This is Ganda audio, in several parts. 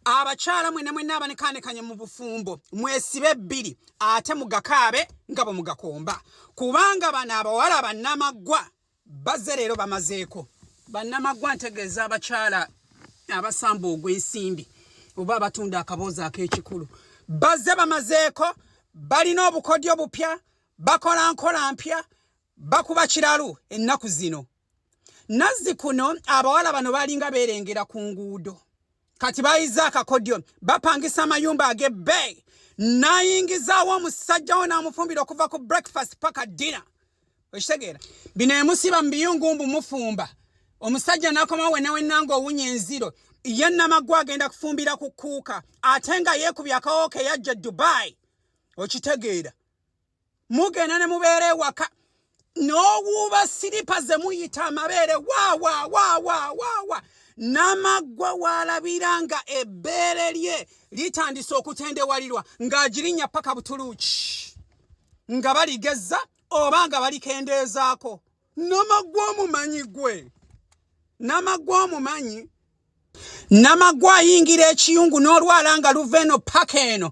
abakyala mwena mwena abanekanekanye mu bufumbo mwesibe bbiri ate mugakaabe nga bwe mugakomba kubanga bano abawala bannamaggwa baze leero bamazeeko bannamaggwa ntegeeza abakyala abasamba ogw'ensimbi oba abatunda akaboozi ak'ekikulu baze bamazeeko balina obukodyo bupya bakola nkola mpya bakuba kiralu ennaku zino nazzi kuno abawala bano balinga beerengera ku nguudo kati bayiza akakodyo bapangisa amayumba agebbeeyi nayingizaawo omusajja wo n'amufumbira okuva ku breakfast paka dina okitegeera bino emusiba mu biyungu mbu mufumba omusajja nakomawo wenawenanga owunya enziro ye namaggu agenda kufumbira ku kuuka ate nga yeekubya akawooka eyajja e dubai okitegeera mugenda ne mubeera ewaka n'owuuba siripa ze muyita amabeere waawaawaawaawa n'amaggwa waalabira nga ebbeere lye litandise okutendewalirwa ng'agirinya paka butuluuki nga baligezza oba nga balikendeezaako Namagwa omumanyi gwe. Namagwa omumanyi. Namagwa ayingira ekiyungu n'olwala nga luva eno paka eno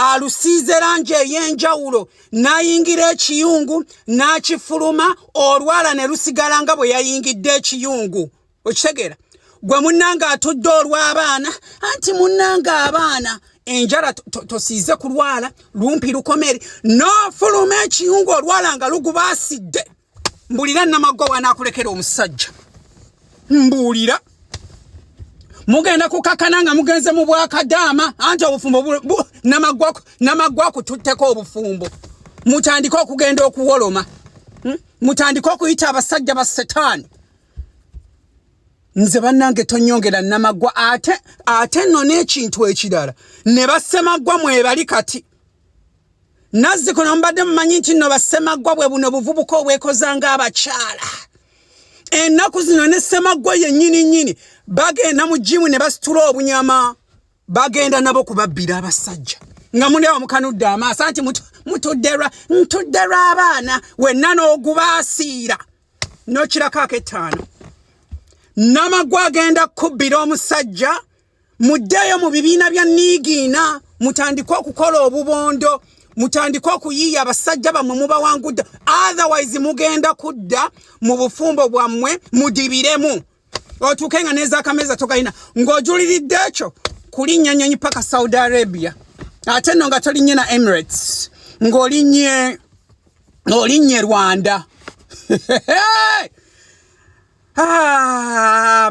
alusiize langi ey'enjawulo n'ayingira ekiyungu n'akifuluma olwala ne lusigala nga bwe yayingidde ekiyungu. okitegeera gwe munnanga atudde olw'abaana anti munnanga abaana enjala tosiize to, to kulwala lumpi lukomere nofuluma ekiyungu olwala nga lugubaasidde mbulira namaggwa wanaakulekera omusajja mbuulira mugenda kukakana nga mugenze mu bwakadaama anti obufumbo namaggwa kututteko obufumbo mutandike okugenda okuwoloma hmm? mutandike okuyita abasajja ba setaani nze bannange tonyongera namagwa ate ate nno n'ekintu ekirala ne basemaggwa mwebali kati nazzi kuno mbadde mumanyi nti nno basemaggwa bwe buno buvubuka obwekoza ng'abakyala ennaku zino ne semaggwa yennyini nnyini bagenda mu jimu ne basitula obunyama bagenda nabo kubabbira abasajja nga muli awo mukanudde amaaso anti mutudde lwa ntudde lw'abaana wenna n'ogubaasiira n'okirako ak'ettaano namagwa agenda kubbira omusajja muddeeyo mu bibiina bya niigiina mutandike okukola obubondo mutandike okuyiiya abasajja bammwe mubawangudde otherwise mugenda kudda mu bufumbo bwammwe mudibiremu otuuke nga n'ezakameza togalina ng'ojuliridde ekyo kulinnya nnyonyi paka saudi arabia ate nno nga tolinnye na emirates ng'olinnye olinnye rwanda ah,